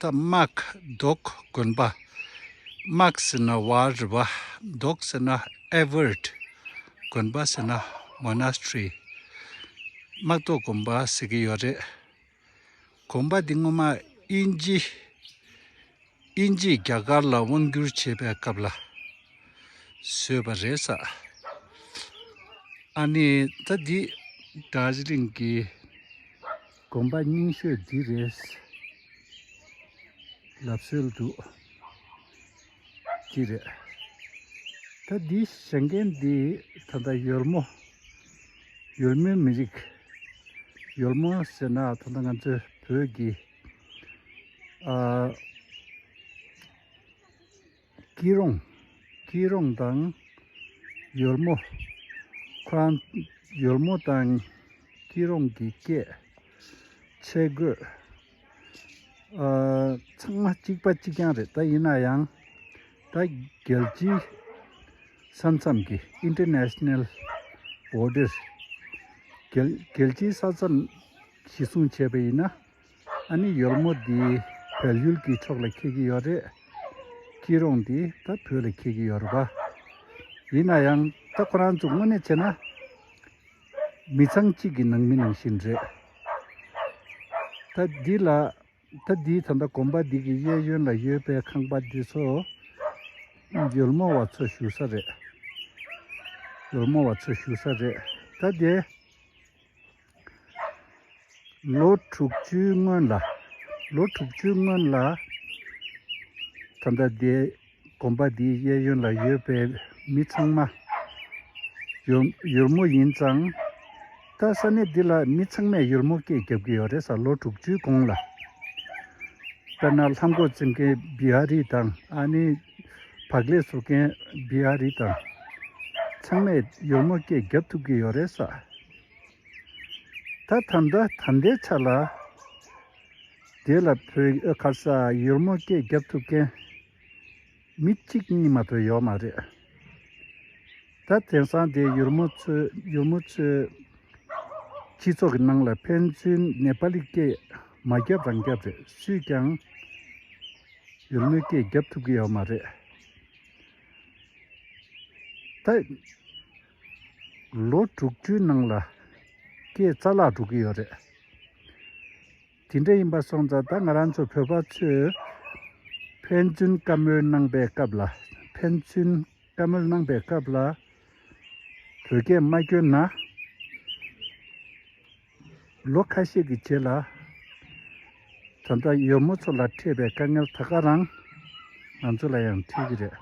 དམག་རྡོག་དགོན་པ། དམག་ཟེར་ན་བ་རི་བ། རྡོག་ཟེར་ན Everett། དགོན་པ་ཟེར་ན Monastery། དམག་རྡོག་དགོན་པ་ཟེར་གྱི་ཡོད་རེད། དགོན་པ་འདི་སྔོན་མ་དབྱིན་ཇི། དབྱིན་ཇིས་རྒྱ་གར་ལ་དབང་བསྒྱུར་བྱེད་པའི་སྐབས་ལ་བཟོས་པ་རེད་ས། ཨ་ནི་ད་འདི Darjeeling གི། དགོན་པ་རྙིང་ཤོས་འདི་རེད། ལབ་སྲོལ་འདུག་གི་རེད། ད་འདིའི་ཞེང་རྒན་འདི་ད་ལྟ་ཡོལ་མོ། ཡོལ་མོའི་མི་རིགས། ཡོལ་མོ་ཟེར་ན་ད་ལྟ་ང་ཚོའི་བོད་ཀྱི། སྐྱིད་རོང། སྐྱིད་རོང་དང། ཡོལ་མོ། ཁོ་རང། ཡོལ་མོ་དང། སྐྱིད་རོང་གི་སྐད། ཆས་གོས། ཚང་མ་གཅིག་པ་གཅིག་རྐྱང་རེད་ད་ཡིན་ན་ཡང། ད་རྒྱལ་སྤྱིའི། ས་མཚམས་ཀྱི International Border། རྒྱལ་སྤྱིའི་ས་མཚམས། ཞིག་སྲུང་བྱས་པ་ཡིན་ན། ཨ་ནེ་ཡོལ་མོ་འདིས་བལ་ཡུལ་གྱི་ཕྱོགས་ལ་ཁེལ་གྱི་ཡོད་རེད། སྐྱིད་རོང་འདིས་ད་བོད་ལ་ཁེལ་གྱི་ཡོད་རེད་པཱ། ཡིན་ན་ཡང་ད་ཁོ་རང་ཚོ་དངོས་གནས་བྱས་ན། མི་ཚང་གཅིག་གི་ནང་མི་ནང་བཞིན་རེད། ད་འདི་ལ། ད་འདིས་ད་ལྟ་གོམ་པ་འདི་གི་གཡས་གཡོན་ལ་ཡོད་པའི་ཁང་པ་འདི་ཚོ། ཡོལ་མོ་བ་ཚོ་བཞུགས་ས་རེད། ཡོལ་མོ་བ་ཚོ་བཞུགས་ས་རེད། ད་དེ། ལོ་དྲུག་ཅུའི་སྔོན་ལ། ལོ་དྲུག་ཅུའི་སྔོན་ལ། ད་ལྟ་འདི་དགོན་པ་འདིའི་གཡས་གཡོན་ལ་ཡོད་པའི་མི་ཚང་མ། ཡུར་མོ་ཡིན་ཙང། ད་ས་གནས་འདི་ལ་མི་ཚང་མས་ཡུར་མོ་སྐད་རྒྱབ་ཀྱི་ཡོད་རེད་ས་ལོ་དྲུག་ཅུའི་གོང་ལ། དཔེར་ན་ལྷ་མགོ་བཙིར་མཁན་བི་ཧ་རི་དང་ཨ་ནི། བག་ལེབ་བཟོ་མཁན་བི་ཧ་རི་དང། ཚང་མས་ཡུར་མོ་སྐད་རྒྱབ་ཐུབ་ཀྱི་ཡོད་རེད་ས། ད་ཐམ་ད་ཐམ་དའི་ཆ་ལ། དེ་ལ་བོད་ཡིག་ཨོད་ཁར་ས་ཡོར་མོ་སྐད་རྒྱབ་ཐུབ་མཁན། མི་གཅིག་གཉིས་མ་ཐོ་ཡོག་མ་རེད། ད་དེང་སང་དེ་ཡོར་མོ་ཚོས་ཡོར་མོ་ཚོས། སྤྱི་ཚོགས་ཀྱི་ནང་ལ་ཕན་ཚུན་ནེ་པ་ལི་སྐད་མ་རྒྱབ་རང་རྒྱབ་རེད་སུས་ཀྱང། ཡོར་མོའི་སྐད་རྒྱབ་ཐུབ་ཀྱི་ཡོག་མ་རེད། ད། ལོ་དྲུག་ཅུའི་ནང་ལ་སྐྱེས་རྩ་བརླག་འགྲོ་གི་ཡོད་རེད། དེ་འདྲ་ཡིན་པ་སོང་ཙང་ད་ང་རང་ཚོ་བོད་པ་ཚོས་ཕན་ཚུན་བཀའ་མོལ་གནང་པའི་སྐབས་ལ་ཕན་ཚུན་བཀའ་མོལ་གནང་པའི་སྐབས་ལ་བོད་སྐད་མ་སྐྱོན་ན། ལོ་ཁ་ཤས་ཀྱི་རྗེས་ལ། དོན་དག་ཡོད་མོ་ཚོ་ལ་འཕྲད་པའི་དཀའ་ངལ་ད་ག་རང་ང་ཚོ་ལ་ཡང་འཕྲད་ཀྱི་རེད།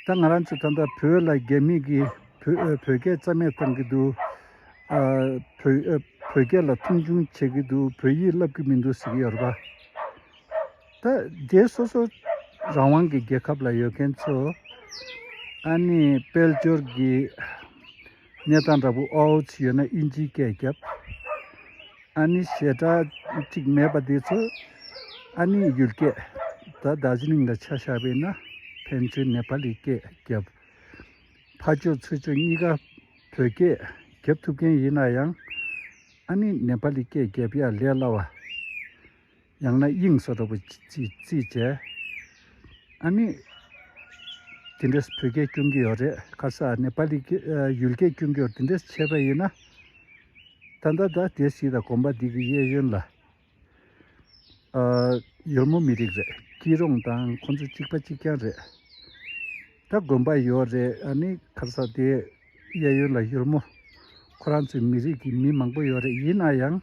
ད་ང་རང་ཚོས་ད་ལྟ་བོད་ལ་རྒྱ་མིས་ཀྱིས་བོད་ཨོས་བོད་སྐད་རྩ་མེད་བཏང་གི་འདུག། ཨ། བོད་ཨོས་བོད་སྐད་ལ་མཐོང་ཆུང་བྱེད་ཀྱི་འདུག་བོད་ཡིག་བསླབ་ཀྱི་མི་འདུག་ཟེར་གྱི་ཡོད་རེད་པ། ད་རྗེས་སོ་སོ་རང་དབང་གི་རྒྱལ་ཁབ་ལ་ཡོད་མཁན་ཚོ་ཨ་ནི་དཔལ་འབྱོར་གྱི་གནས་སྟངས་འདྲ་པོ་ཨའོ་ཚི་ཡོད་ན་དབྱིན་ཇིའི་སྐད་བརྒྱབ། ཨ་ནི་ཞེ་དྲགས་ཅིག་མེད་པ་དེ་ཚོ་ཨ་ནི་ཡུལ་སྐད་ད་རྡ་ཟི་ལིང་ལ་ཆ་བཞག་པས་ན་ཕན་ཚུན་ནེ་པ་ལི་སྐད་བརྒྱབ། ཕ་ཅོ་ཚུ་ཅོ་གཉིས་ཀ་བོད་སྐད་བརྒྱབ་ཐུབ་མཁན་ཡིན་ན་ཡང་ཨ་ནི་ནེ་པ་ལི་སྐད་བརྒྱབ་ཡ་ལས་སླ་བ། ཡང་ན་དབྱིངས་སུ་རོལ་བའི་ཚིག་བཅད། ཨ་ནི། དེ་འདྲས་བོད་སྐད་སྐྱོན་གྱི་ཡོད་རེད་ཁ་སང་ནེ་པ་ལི་ཡུལ་སྐད་སྐྱོན་གྱི་ཡོད་དེ་འདྲས་ཆད་པ་ཡིན་ན། ད་ད་ད་དེ་ཞིག་དང་གོམ་པ་འདི་གི་གཡས་གཡོན་ལ། ཡུལ་མོ་མི་རིགས་རེད་སྐྱིད་རོང་དང་ཁོང་ཚོ་གཅིག་པ་གཅིག་རྐྱང་རེད། ད་དགོན་པ་ཡོད་རེད་ཨ་ནི་ཁ་སང་དེ་གཡས་གཡོན་ལ་ཡུལ་མོ། ཁོ་རང་ཚོའི་མི་རིགས་ཀྱི་མི་མང་པོ་ཡོད་རེད་ཡིན་ན་ཡང།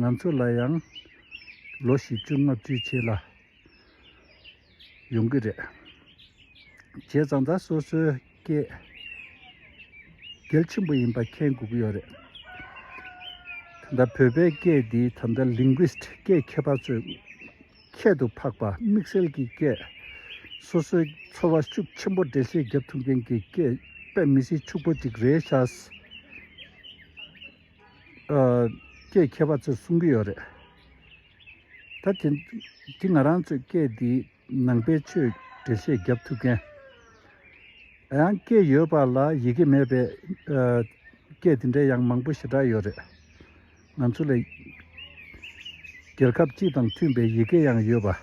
ང་ཚོ་ལ་ཡང་ལོ་བཞི་བཅུ་ལྔ་བཅུའི་ཆེད་ལ་ཡོང་གི་རེད། བྱས་ཙང་ད་སོ་སོའི་སྐད་གལ་ཆེན་པོ་ཡིན་པ་མཁྱེན་དགོས་ཀྱི་ཡོད་རེད། ད་ལྟ་བོད་པའི་སྐད་འདི་ད་ལྟ Linguist སྐད་མཁས་པ་ཚོས་ཁྱད་དུ་འཕགས་པ་དམིགས་བསལ་གྱི་སྐད། སོ་སོའི་ཚོར་བ་ཤུགས་ཆེན་པོ་འགྲེལ་བཤད་བརྒྱབ་ཐུབ་མཁན་གྱི་སྐད་དཔེ་མི་སྲིད་ཕྱུག་པོ་ཅིག་རེད་ཤག། སྐད་མཁས་པ་ཚོས་གསུང་གི་ཡོད་རེད། ད་དེ་དེ་ང་རང་ཚོས་སྐད་དེའི་ནང་པའི་ཆོས་འགྲེལ་བཤད་བརྒྱབ་ཐུབ་མཁན། ཡང་སྐད་ཡོད་པ་ལ་ཡི་གེ་མེད་པའི་སྐད་དེ་འདྲའི་ཡང་མང་པོ་ཞེ་དྲག་ཡོད་རེད། ང་ཚོ་ལ་རྒྱལ་ཁབ་སྤྱི་དང་མཐུན་པའི་ཡི་གེ་ཡང་ཡོད་པ།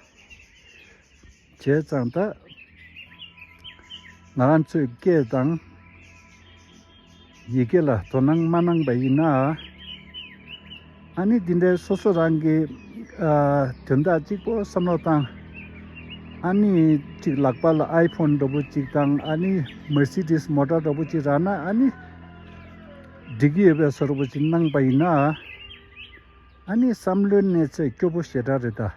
བྱས་ཙང་ད་ང་རང་ཚོས་སྐད་དང་ཡི་གེ་ལ་དོ་སྣང་མ་གནང་པ་ཡིན་ན། ཨ་ནི་འདི་འདྲའི་སོ་སོ་རང་གི་དོན་དག་གཅིག་པོ་བསམ་བློ་བཏང། ཨ་ནི་གཅིག་ལག་པ་ལ་ཨའི་ཕོན་འདྲ་པོ་གཅིག་དང་ཨ་ནི Mercedes མོ་ཏྲ་འདྲ་པོ་གཅིག་རག་ན་ཨ་ནི་འགྲིག་གི་ཡོད་པའི་སོ་ར་པོ་གཅིག་གནང་པ་ཡིན་ན། ཨ་ནི་བསམ་བློའི་གནས་ཚད་སྐྱོ་པོ་ཞེ་དྲག་རེད་ད།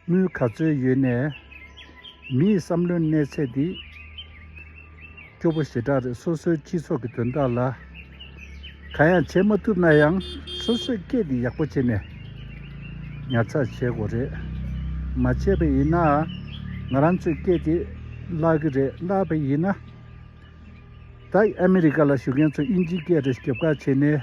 དངུལ་ག་ཚོད་ཡོད་ནས། མི་ཡི་བསམ་བློའི་གནས་ཚད་འདི། སྐྱོ་པོ་ཞེ་དྲག་རེད་སོ་སོའི་སྤྱི་ཚོགས་ཀྱི་དོན་དག་ལ། གང་ཡང་བྱེད་མ་ཐུབ་ན་ཡང་སོ་སོས་སྐད་འདི་ཡག་པོ་བྱེད་ནས། ཉར་ཚགས་བྱེད་དགོས་རེད། མ་བྱས་པ་ཡིན་ན། ང་རང་ཚོས་སྐད་འདི་བརླག་གི་རེད་བརླག་པ་ཡིན་ན། ད་ཨ་མི་རི་ཀ་ལ་བཞུགས་མཁན་ཚོ་དབྱིན་ཇིའི་སྐད་རེ་ཞིག་རྒྱབ་ཁ་བྱས་ནས།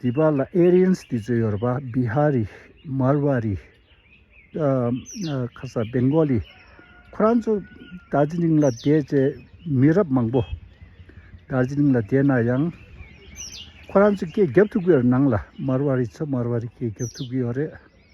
དེ་བར་ལ་ཨེ་རི་ཡན་སི་དེ་ཚོས་ཡོར་པ་བྷི་ཧ་རི། མར་བྷ་རི། ཁ་སང་སྦེན་གོ་ལི། ཁོ་རང་ཚོ་རྡ་རྗི་ལིང་ལ་བསྡད་ཅེས་མི་རབས་མང་པོ་རྡ་རྗི་ལིང་ལ་བསྡད་ན་ཡང། ཁོ་རང་ཚོས་སྐད་རྒྱབ་ཐུབ་ཀྱི་ཡོད་རེད་ནང་ལ་མར་བྷ་རི་ཚོས་མར་བྷ་རི་སྐད་རྒྱབ་ཐུབ་ཀྱི་ཡོད་རེད།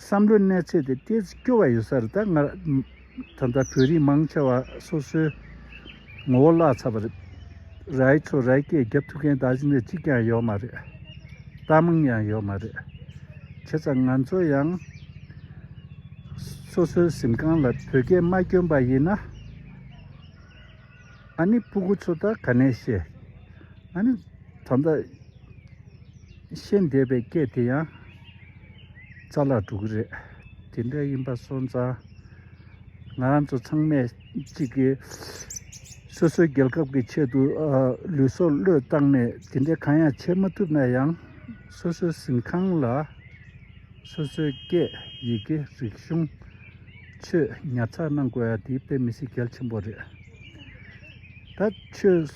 བསམ་བློའི་གནས་ཚད་དེ་སྐྱེ་རུ་སྐྱོ་བ་ཡོད་ས་རེད་ད། ད་ལྟ་བོད་རིགས་མང་ཆེ་བ་སོ་སོའི་ངོ་བོ་བརླག་ཚར་བ་རེད། རྭའི་ཚོ་རྭའི་སྐད་རྒྱབ་ཐུབ་མཁན་ད་གཞི་ནས་གཅིག་ཀྱང་ཡོད་མ་རེད། ལྟ་མང་ཡང་ཡོད་མ་རེད། བྱས་ཙང་ང་ཚོ་ཡང་སོ་སོའི་གཟིམ་ཁང་ལ་བོད་སྐད་མ་བསྐྱོན་པ་ཡིན་ན། ཨ་ནི་སྤུ་གུ་ཚོ་ད་ག་ནས་ཤེས། ཨ་ནི། ད་ལྟ། ཤེས་འདས་པའི་སྐད་དེ་ཡང། རྩ་ལག་དྲུག་གི་རེད། དེ་འདྲ་ཡིན་པ་སོང་ཙང། ང་རང་ཚོ་ཚང་མས་གཅིག་གི། སོ་སོའི་རྒྱལ་ཁབ་ཀྱི་ཆེད་དུ། ལུས་སྲོག་བློས་བཏང་ནས་དེ་འདྲའི་གང་ཡང་བྱེད་མ་ཐུབ་ན་ཡང། སོ་སོའི་གཟིམ་ཁང་ལ། སོ་སོའི་སྐད་ཡི་གེ་རིག་གཞུང། ཆོས་ཉར་ཚགས་གནང་དགོས་ཡ་དེའི་དཔེ་མི་སྲིད་གལ་ཆེན་པོ་རེད། ད་ཆོས་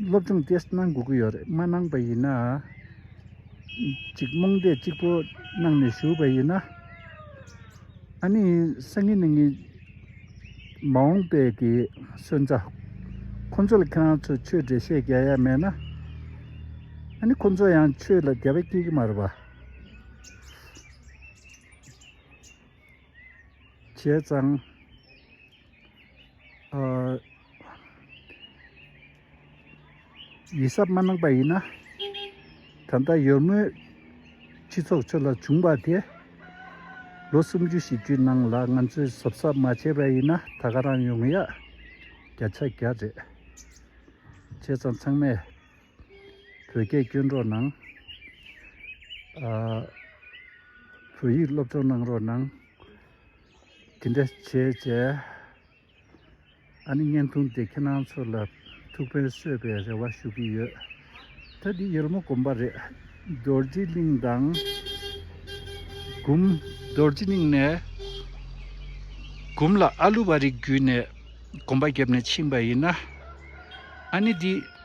སློབ་སྦྱོང་ཏེས་གནང་དགོས་ཀྱི་ཡོད་རེད་མ་གནང་པ་ཡིན་ན། ཅིག་རྨོངས་དད་གཅིག་པོ་གནང་ནས་ཞུགས་པ་ཡིན་ན། ཨ་ནི་སང་ཉིན་ནས་ངས་མ་འོངས་པའི་གི་སོན་རྩ་ཁོ་ཚོ་ལ་ཁྱེད་རང་ཚོས་ཆོས་འབྲེལ་བཤད་རྒྱ་ཡ་མེད་ན། ཨ་ནི་ཁོ་ཚོ་ཡང་ཆོས་ལ་དགའ་བས་སྐྱེས་ཀྱི་མ་རེད་པ། བྱས་ཙང། ཡིད་གཟབ་མ་གནང་པ་ཡིན་ན། ད་ལྟ་ཡོད་མུས་སྤྱི་ཚོགས་ཁྲོད་ལ་བྱུང་བ་དེ། ལོ་སུམ་ཅུ་བཞི་ཅུའི་ནང་ལ་ང་ཚོས་གཟབ་གཟབ་མ་བྱས་པ་ཡིན་ན་ད་ག་རང་ཡོང་ཡག་བརྒྱ་ཆ་བརྒྱ་རེད། བྱས་ཙང་ཚང་མས། བོད་སྐད་སྐྱོན་གྲོགས་གནང། བོད་ཡིག་སློབ་སྦྱོང་གནང་རོགས་གནང། དེ་འདྲ་བྱས་བྱས། ཨ་ནི་བརྙན་ཐུང་འདི་ཁྱེད་རང་ཚོ་ལ་ཐུགས་ཕན་གསོས་པའི་རེ་བ་ཞུ་གི་ཡོད། ད་འདི་ཡུལ་མོ་དགོན་པ་རེད། རྡོ་རྗེ་གླིང་དང། གུམ། རྡོ་རྗེ་གླིང་ནས། གུམ་ལ་ཨ་ལུ་བ་རིགས་བརྒྱུད་ནས་དགོན་པ་བརྒྱབ་ནས་ཕྱིན་པ་ཡིན་ན། ཨ་ནི་འདི།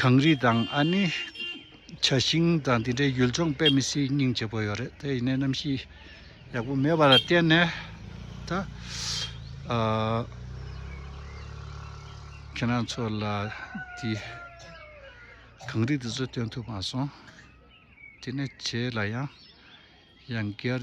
གངས་རི་དང་ཨ་ནེ། བྱ་ཤིང་དང་དེ་འདྲའི་ཡུལ་ལྗོངས་དཔེ་མི་སྲིད་སྙིང་རྗེ་པོ་ཡོད་རེད་དེ་ཡིན་ན་གནམ་གཤིས་ཡག་པོ་མེད་པ་ལ་བརྟེན་ནས་ད། ཁྱེད་རང་ཚོ་ལ་དེ་གངས་རི་དེ་ཚོ་སྟོན་ཐུབ་མ་སོང་དེ་ནས་བྱེས་ལ་ཡང་ཡང་སྐྱར།